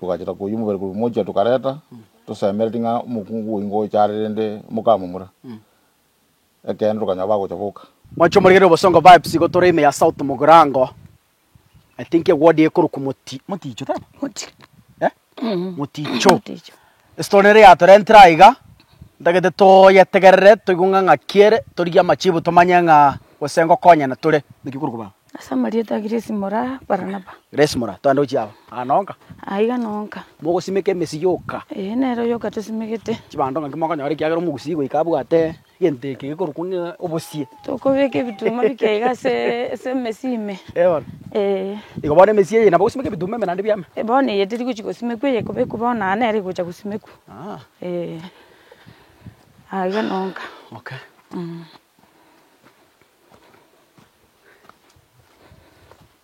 Togacheta koyia omobere korwa mochia tokareta, tosemeretie ng'a omokungu oyi ngocha are rende mokamomura. Ekeene tokanyora bagocha boka. Mwancho omorigereria obosongo vibes igo tore ime ya south mogirango I think eward ekorokwa moti moticho taibo? Moticho. Moticho. Estori ere yatorentire aiga, ntagete toyetegerere toigwe ng'a ng'aki ere, torigie amachibu tomanye ng'a gose ngokonyana tore. Naki korokwa bao? Ase amarieta a Gresi mora Baranaba. Gresi mora, toende gochia aba. Aa nonka. Aiga nonka. Mogosimeka emesio yoka. Ee, nere oyoka tosimegete. Chibando ng'aki mokonyora ekiagera omogusii goika abwate. Egento eke gekorokwa ng'a obosie. Tokobeka ebituma bike iga ase ase emesi ime. Eono. Ee. Igo bono emesi eye nabo ogosimeka ebituma ime naende biame. E bono eye teri gochi gosimekwa eye ekobekwa bono aa nere egocha gosimekwa. Aa. Ee. Aa iga nonka. Okay. Mh.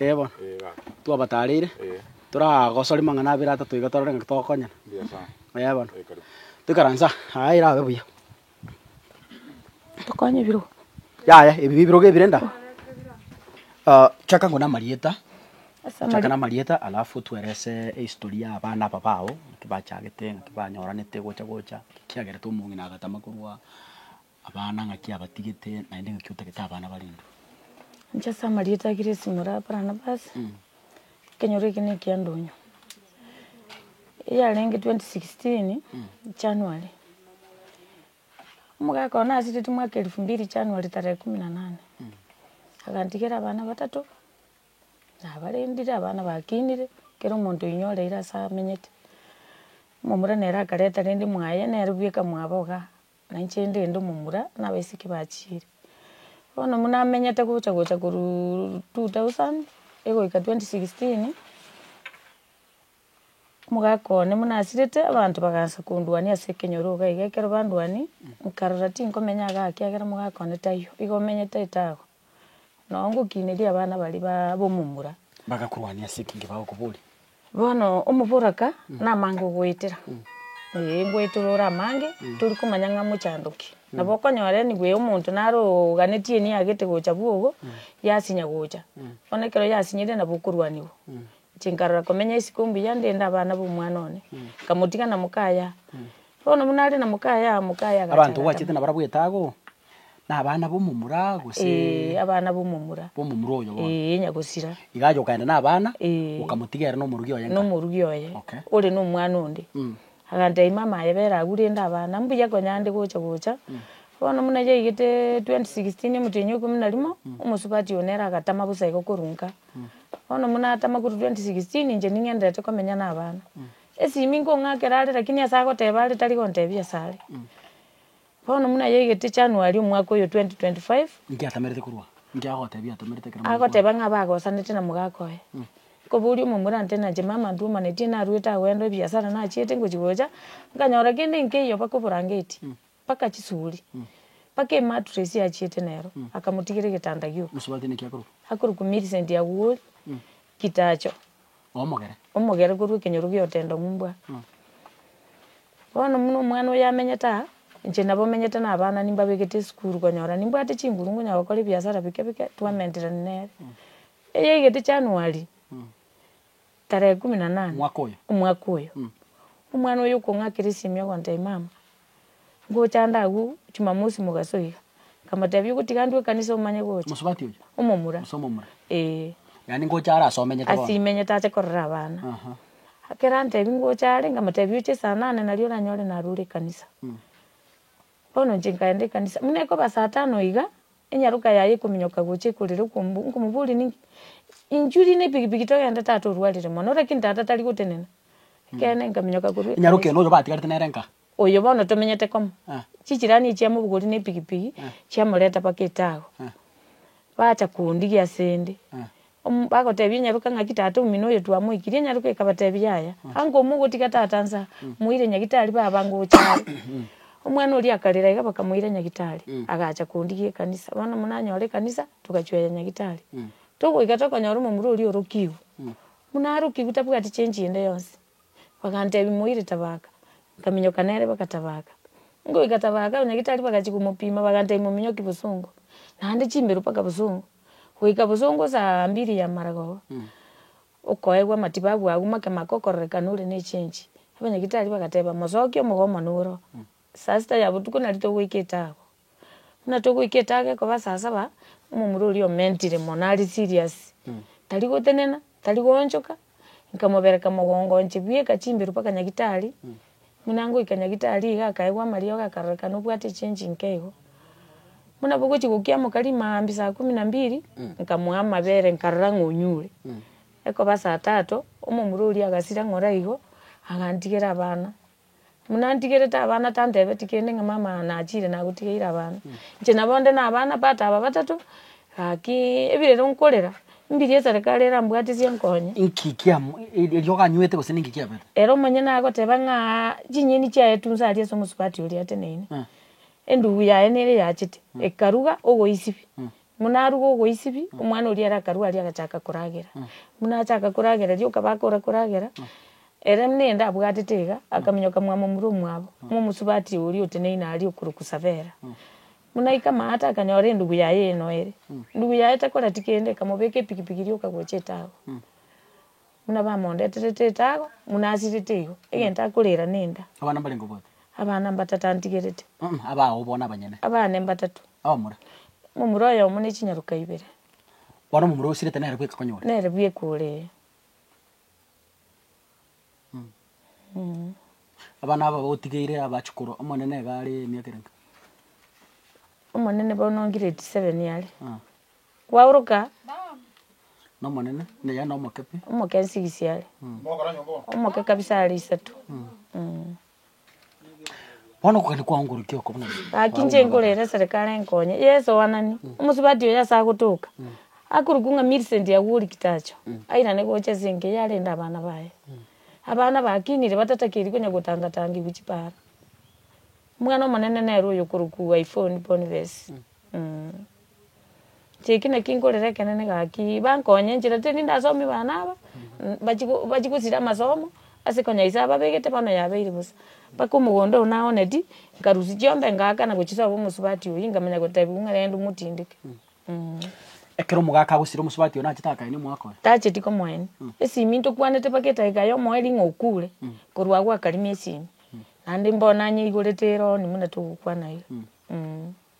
Ee bono, twabataareire, toragosoria mang'ana abere atato iga torore ng'aki togokonyana. Ee bono, toikaranse aa, aa erabe buya. Tokonye ebirogo. Yaya, ebi nebirogo ebire nda. Ah, chaka nko namarieta, Ase chaka amari- namarieta alafu twerese ehistory ya abana aba bao, ng'aki bachagete, ng'aki banyoranete gocha gocha, ekiagerete omong'ina agatama korwa. Abana ng'aki abatigete, naende ng'aki otagete abana barendwe? Inche ase amarieta a Gresimo ore Barnabas, ekenyoro eke nekia ndonyo. Eyarenge twenty sixteen January, omogaka one aseteti mwaka elfu mbili January tarehe kumi na nane, agantigera abana batato, nabarendire, abana bakinire, kera omonto oinywa ore ere ase amenyete. Omomura nere akareta rende mwaye, nere bweka mwabo igaa. Na inche ndende omomura, na abaiseke bachiire. Bono buna amenyete gocha gocha korwa two thousand egoika twenty sixteen, omogaka one buna asirete, abanto bagansa konduania ase ekenyoro iga iga, ekero banduani, nkarora tinkomenya iga ake ekiagera omogaka one taiyo, iga omenyete etago. Nao ngokineria abana baria ba ab'omomura. Bagakorwania ase eki'nge bagokoboria. Bono omoboraka namange ogoetera. Ee, ngoetere ore amange, tori komanya ng'a mochandoki. Nabo okonyora enigwe ya omonto naro oganetie eniyagete gocha bwogo, yasinya gocha. Bono ekero yasinyire nabo okorwaniwa. Inche nkarora komenya isiko mbuya ndende abana b'omwana one, nkamotiga na mokaya. Bono buna are na mokaya, mokaya agacha. Abanto oachete nabarabwo etago? Nabana b'omomura gose. Ee, abana b'omomura. B'omomura oyo bono. Ee, onya gosira. Iga aye okaenda nabana. Ee. Okamotiga ere nomorugi oye ng'a. Nomorugi oye. Okay. Ore nomwana onde. Mm. Agantebia mama aye bera agwo rende abana mbuya konya nde gocha gocha. Mm. Bono muna yaigete 2016 omotienyi oikomi na rimo. Mm. Omosubati oyo nere agatama bosa igo korwa nka. Mm. Bono muna atama korwa 2016 inche ning'enderete komenya nabana. Mm. Esimi nkong'akera are lakini ase agoteba are tari gontebia asare. Mm. Bono buna yaigete January omwaka oyo 2025, Inki atamerete korwa? Inki agotebia atamerete ekero mwaigwana? agoteba ng'a abagosanete na mogaka oye. Nkoboria omomura nte nache mama ntwomanetie narwete agwenda ebiasara nachiete ngochi gocha, nkanyora kende nkeiyo mpaka oborangeti, mpaka chisuri, mpaka emattress achiete nero, akamotigera egetanda gioka. Mosubati naki akorokwa? Akorokwa Millicent Awori Kitacho. omogere. Omogere korwa ekenyoro gia otenda ng'umbwa. Bono buna omwana oyo amenyete aa, inche nabo menyete na abana nimbabegete esukuru konyora nimbwate chinguru nkonya gokora ebiasara bike bike twamenterani nere. Eyaigete January, tarehe kumi na nane, omwaka oyo, omwana oyo okong'akera esimi ogontebia mama. ngochanda agwo jumamosi mogaso iga, nkamotebia ogotiga ndue ekanisa omanye gocha. Omosubati oyo? Omomura. Ase omomura? Eeh. Yaani ngocha are ase omenyete bono? Ase imenyete ache korera abana. Aha. Ekero antebia ngocha are, nkamotebia oche saa nane nario oranyore narure ekanisa. Bono inche nkaenda ekanisa, buna ekoba saa tano iga. Enyaroka yaye ekominyoka gocha ekorera okombua, nkomoboria ninki? Inchuo ri nepigipigi togende tata orwarire mono, lakini tata tari gotenena. Ekeene nkaminyoka korwa Enyaroka eno oyo batigarete nere nka? Oyo bono tomenyete komo. Eh. Chichirani echio chiamobogoria nepigipigi, chiamoreta mpaka etagwa. Eh. Bacha kondigia asende. Eh. Omo bagotebia enyaroka ng'aki, Tata omino oyo twamoikirie, enyaroka ekabatebia, Yaya, ango mogotiga tata nse aa, moire nyagitari, baba ango gocha are. Omwana oria akarera iga bakamoira nyagitari, agacha kondigia ekanisa. Bono buna anyora ekanisa, togachueya nyagitari. Togoika tokonyora omomura oria orokigwe. Buna arokigwe tabwati change ende yonsi. Bagantebia moire tabaka. Nkaminyoka nere bagatabaka. Ngoika tabaka, nyagitari bagachia komopima bagantebia mominyoki bosongo. Naende chimbero mpaka bosongo. goika bosongo saa mbiri y'amarago, okoegwa amatibabu agwo make make okororeka nore n'echengi. Abanyagitari bagateba, Mosokie omogomo noro, saa sita ya botuko nari togoika etago. Buna togoika etago ekoba saa saba, omomura oria omentire mono are serious, tari gotenena, tari goonchoka, Nkamobereka mogongo inche bweka chimberu mpaka nyagitari, buna ngoika nyagitari iga akaigwa amariogo akarorekana obwate echengi inke igo. Buna bogochi gokiamoka rimambia saa kumi na mbili, nkamoa amabere nkarora ng'a onyure. Ekoba saa tatu, omomura oria agasira ng'ora igo, agantigera abana. Buna ntigerete abana tantebeti kende ng'a mama nachiire nagotigeire abana. Inche nabo nde nabana but aba batato, gaki ebirero nkorera, mbiria eserekari erambwatisie enkonye. Inki kiamo eriogo anywete gose ninki kiabete? Ere omonyene agoteba ng'aa chinyeni chiaye tu nsaria ase omosubati oria ateneine. Endubu yaye nere yachete, ekaruga ogoisibia. Buna arwa gogoisibi, omwana oria ere akarua aria agachaka koragera. Buna achaka koragera riria okaba akora koragera, ere buna ende abwatete iga, akaminyoka mwamomura omwabo, momosubati oria oteneine aria okorokwa Savera. Buna aika amaate akanyora endugu yaye enoere. Endugu yaye tekoreti kende, ekamobeka epikipiki eria okagocha etaagwa. Buna bamondeterete etago, buna asirete igo, egento akorera nenda. Abana mbarenge obwate. Abana mbatata antigerete. Mh, abao bono abanyene. Abane mbatatu. Abamura. Momura oyomo ne chinyaroka ibere. Bono omomura osirete nere bweka konyore. Nere bweka ore, ee. Mh. Abana aba otigeire abache korwa, Omonene iga are emiaka erenga? Omonene bono grade seven are. Mh. Kwaoroka Nomonene, na yaani omokepi. omoke nse gisiare, omoke kabisa are isato. Mm. Bono okogenda kwaongorokia oko buna ere. Gaki inche nkorera eserekara enkonye ya esoanani, omosubati oyo ase agotoka, akorokwa ng'a Millicent Agwori Kitacho, airane gocha ase enka eyio arende abana baye. Abana baakinire batatakeri konya gotangatangigwa chipaara. Omwana omonene nere oyo okorokwa Iphone Boniface. Inche eki naki nkorera ekenene gaki, bankonye nchera tari ninde asomi bana aba, bachi bachi gosira amasomo, ase konya ise ababegete bono yabeire bosa. Mpaka omogondo oyo naoneti, nkarusia chiombe ngaaka na gochisoa bo omosubati oyio, nkamanya gotebiwa ng'a rende omotindeke eh. Ekero omogaka agosira omosubati oyo nachete akaenia omwaka oye? Tacheti komoenia, esimi ntokwanete mpaka edaika ya omoeri ng'a okure, korwa agwo akarimia esimi, naende mbono nanyeigoretere ororo onye buna togokwana iga eh.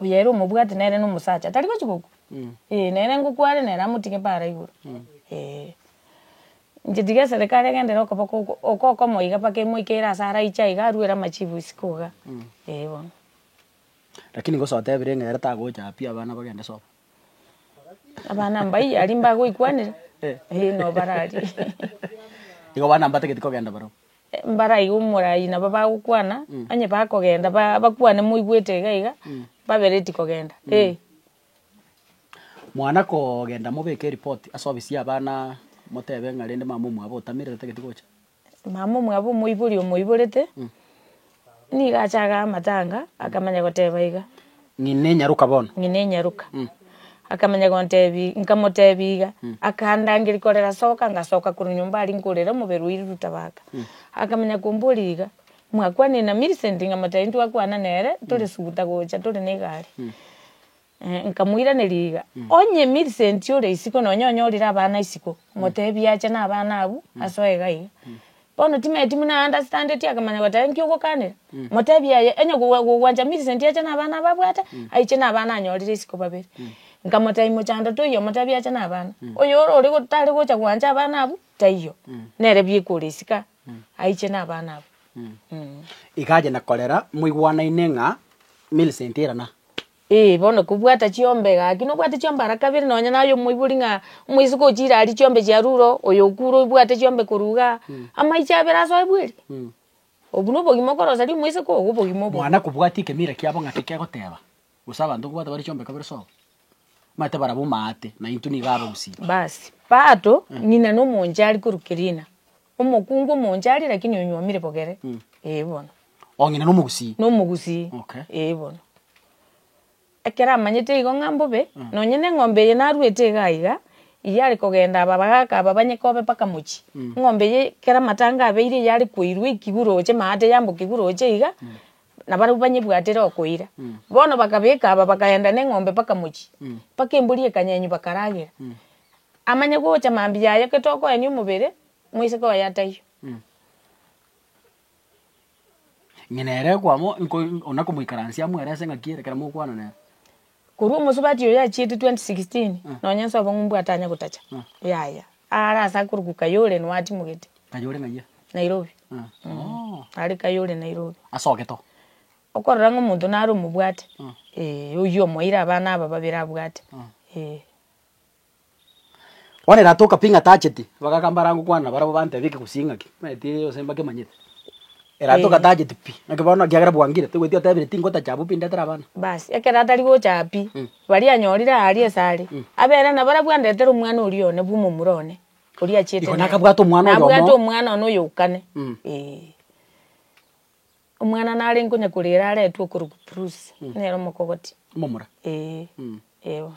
Oyo ere omobwati nere nomosacha tari gochi gokwa eh nere ngokware nere amotige paara igoro eh. Inche tiga eserekari egenderere okoboko oko okokomo iga mpaka emoikeire ase araiche aiga aruere amachibo isiko iga eh bono. Rakini gose otebire ng'a ere tagocha aa pi abana bagende sobo. Abana mbayi aria mbagoikwanera eh nobararie. Igo abana mbatageti kogenda barabwo. Mbaraiga omorai nabo bagokwana, onye bakogenda bakwane moigwete iga iga, babe ready kogenda, eh. Mwana kogenda mobeke eripoti ase obisi y'abana motebe ng'a rende mama omwabo otamire tageti gocha. Mama omwabo omoibori omoiborete, Nigo achaga amatanga, akamanya goteba iga. Ng'ina enyaruka bono. Ng'ina enyaruka. Akamanya gontebi, nkamotebi iga, akandangeria korera soka, ngasoka korwa nyomba aria nkorera omobere o iri rutabaka. Akamanya komboria iga, mwakwanire na Millicent? Nkamotebi, ntwakwana nere, tore suguta gocha, tore na egari. Nkamoiraneria iga, Onye Millicent ore isiko nonya onyorire abana isiko, moteebie ache nabana abwo ase oiga iga. Bono timanyeti buna aa understandeti akamanya goteba inki ogokanera, moteebie aye onye gogwancha Millicent ache nabana aba abwate, aiche nabana anyorire isiko babere. Nkamotebia mochando toiyo omoteebie ache nabana. Oyo ore tari gocha gwancha abana abwo, taiyo. Nere bieka ore isiko aa, aiche nabana abwo. Iga aye na korera moigwanaine ng'a Millicent erana. Ee, bono kobwata chiombe gaki, nobwate chiombe ara kabere, nonya naye omoibori ng'a omoiseke ochiire aria chiombe chiarure, oyo okure obwate chiombe korwa igaa, amaiche abere asoe bweri? Obwo nobogima okoroseria omoiseke ogo obogima obo. Mwana kobwati ekemira kiabo ng'aki kegoteba, gose abanto nkobwate bare chiombe kabere sobo, omanyete barabwo maate, naintwe nigo abagusiria. Bas, Pato, ng'ina na omonchari korwa Kerina, Omokungu omonche aria lakini onyuomire bogere. Ee bono. Ong'ina na omogusii. Na omogusii. Okay. Ee bono. Ekero amanyete igo ng'a mbobe, nonye na eng'ombe eye naruete iga iga, iyare kogenda aba bagaka aba banye kobe mpaka mochie. Eng'ombe eye ekero amatanga abeire iyare koirwa ekigwe roche maate yambokigwe roche iga, na barabwo banyebwatere okoira. Bono bakabeka aba bakaenda na eng'ombe mpaka mochie. Mpaka embori ekanyenywa bakaragera. Amanye gocha mambia aye gete okoenia omobere moiseke oye ataiyo. Inye nere ekwamo nko ona komoikaransia amo ere ase ng'aki ere ekero mokwana nere. Korwa omosubati oyo achiete 2016 nonya nse obong'umbu atanya gotacha. Yaya. Aare ase akorokwa Kayole noo atimogete. Kayole ng'ayia? Nairobi. Aare Kayole Nairobi. Ase ogeto? Okorora ng'a omonto nare omobwate. Oyio omoeire abana aba babere abwate. Bono ere atoka pi ng'a tacheti, bagakamba ara gokwana na barabwo bantebe eke gose ing'aki, omanyete gose mbakemanyete. Ere atoka Eh. tacheti pi, naki bono ekiagera bwangire, togoeti otebire tingotacha abwo pi ndetere abana. Basi ekero atari gocha aa pi, Mm. baria anyorire aaria esare, Mm. abera nabo ara bwandetere omwana oria one bwa omomura one, oria achiete Iko naye. nakabwate omwana oyomo. Nabwate omwana one oyokane. Mm. Eh. Omwana nare nkonyakorera aretwe okorokwa Bruce, nere omokogoti. Omomura. Eh. Mm. Eh bono.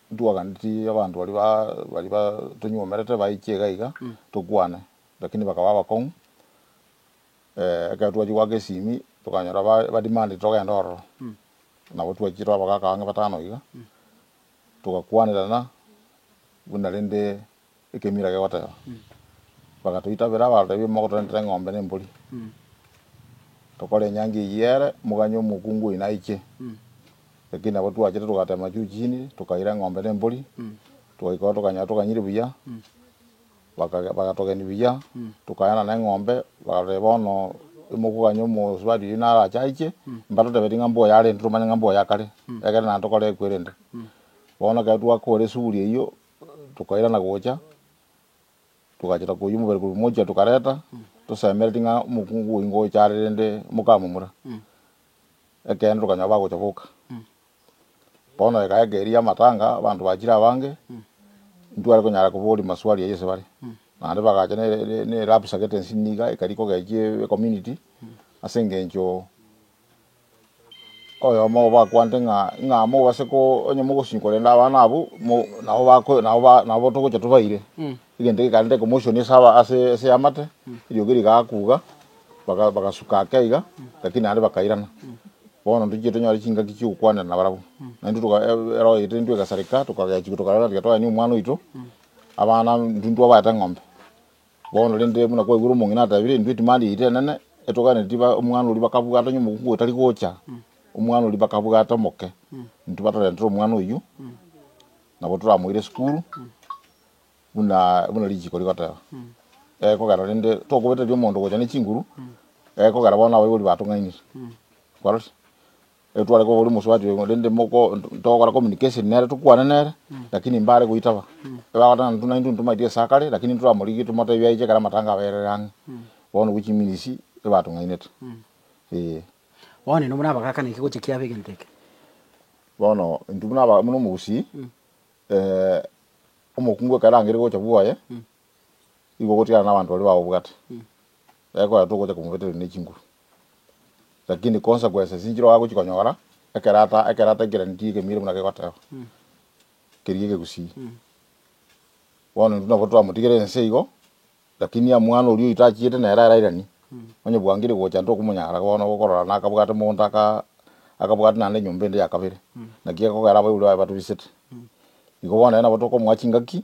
Ntwaganeti abanto baria baria batonyuomerete baiche iga iga tokwane, lakini bakaba abakong'u. Ekero twachia goaka esimi tokanyora ba ba demandete togende ororo, nabo twachire tore abagaka abange batano iga, togakwanerana buna rende. Ekemirage goteba, Bagatoitabera abatebi, Mogotorentera eng'ombe na embori, tokore enyangi eyio ere, moganywe omokungu oino aiche. Ekio nabo twachete togatema juu chini, tokaira eng'ombe na embori, togaikora tokanyara toganyire buya, bagatogeni buya, tokairana na eng'ombe, bagateba bono imokoganya omosubati oino arache aiche, mbatotebeti ng'a mboyo arente tomanye ng'a mboyo akare, ekero naende tokore ekwe erende. Bono ekero twakora esuguri eyio, Tokairana gocha, togachaka koyia omobere korwa mochia tokareta, tosemeretie ng'a omokungu oyo ngocha are rende mokamomura. Ekeene tokanyora bagocha boka. Bono ekae eke eria y'amatanga abanto bachire abange, ntware konyara koboria maswali ayio ase bare. Naende bagacha ne ne lab secretaries niga ekari kogechia ecommunity ase engencho. Oyomo obo bakwanete ng'a ing'a amo obase ko onye mogosinyi korenda abana abwo mo nabo bako nabo ba nabo togocha tobaire egento gekarenta commotion ase aba ase ase eamate eriogi rigakuga baga bagasuka ake iga lakini naende bakairana bono ntochiire tonyore chingaki chiokokwanera nabarabwo naende toka erogo yaito intwe egasareka tokagechigwa tokarora tiga twayeni omwana oito abana intwe intwabaete eng'ombe. Bono rende, buna kwaigure omong'ina atabire, intwe timari yaito enene etoganeti tiba omwana oria bakabwata onye omokungu otari gocha, omwana oria bakabwata omoke, intwe batorentere omwana oyio nabo toramoire esukuru buna buna richiko rigoteba. Egekogera rende tokobeteria omonto gocha ne chinguru, egekogera bono abaibori batong'ainire. Kwarorire? Ekero tware koba oria omosubati oyo rende moko togokora communication nere tokwane nere lakini mbare goitaba. Bagoteba intwe naintwe ntomaete ase akare lakini ntoramorigie tomotebi aiche ekero amatanga aberire ang'e. Bono obwo chiminisi ebatong'ainete eh. Bono nainwe buna abagakana eki gocha kiabe egento eke. Bono intwe buna aba buna omogusii omokungu ekero arangeire gocha bwoye igo ogotigara na abanto baria baobwate. Ekero twaye togocha komobetereria ne chinguru. Lakini konsequence esinchire oagochia konyora, ekerata ekerata ekereni tigekemeire buna kegoteba, keria egegusii. Bono intwe nabo twamotigera ense igo, lakini amwana oria oito achiete nere arairani, onye bwangire gocha ntokomonyara bono okorora nakabwate mogondo aka akabwate naende enyomba ende ya kabere, naki egekogera abaibori baye batobisete. Igo bono nere nabo tokomoa chingaki.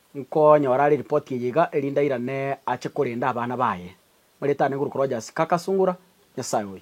Nkonyora are ripoti eye iga, erinde airane ache korenda abana baye. Maritani nguru korwa Jasi, kaka, Sungura, Nyasae oyo!